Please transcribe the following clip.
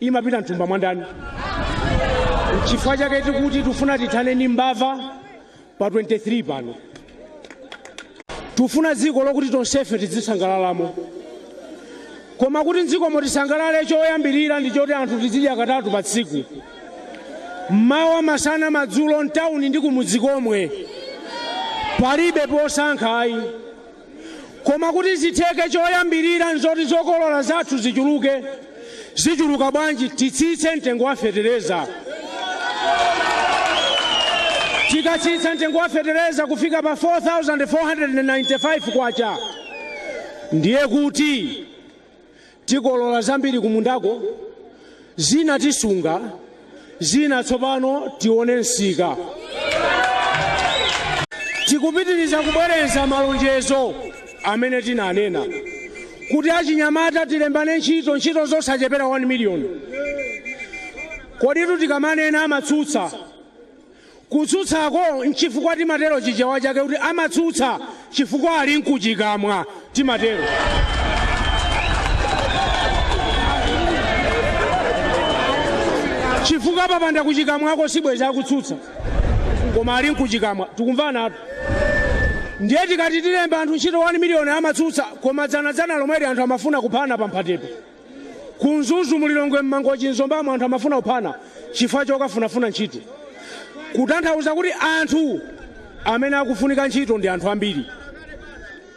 imapita mthumba mwandani nchifukwa chake tikuti tufuna tithane ndi mbava pa 23 pano tufuna dziko lokuti tonsefe tidzisangalalamo koma kuti mdzikomo tisangalale choyambirira ndi choti anthu tizidya katatu pa tsiku mmawa masana madzulo mtawuni ndi kumudzi komwe palibe posankha ayi Koma kuti zitheke choyambirira nzoti zokolola zathu zichuluke. Zichuluka bwanji? Titsitse mtengo wa fetereza. Tikatsitsa mtengo wa fetereza kufika pa K4495 ndiye kuti. tikolola zambiri kumundako zina tisunga zina tsopano tione msika tikupitiriza kubwereza malonjezo amene tinanena kuti achinyamata tilembane ntchito ntchito zosachepera 1 miliyoni koditu tikamanena amatsutsa Kutsutsako nchifukwa timatero chichewa chake kuti amatsutsa chifukwa ali nkuchikamwa timatero. Chifukwa apapanda kuchikamwako sibwezi akutsutsa koma ali nkuchikamwa tikumvanatu ndiye tikati tilemba anthu ntchito 1 million amatsutsa koma dzana dzana lomweli anthu amafuna kuphana pa mphatepo. Ku Mzuzu mu Lilongwe m'Mangochi m'Zombamo anthu amafuna kuphana chifukwa chokafunafuna ntchito. Kutanthauza kuti anthu amene akufunika ntchito ndi anthu ambiri.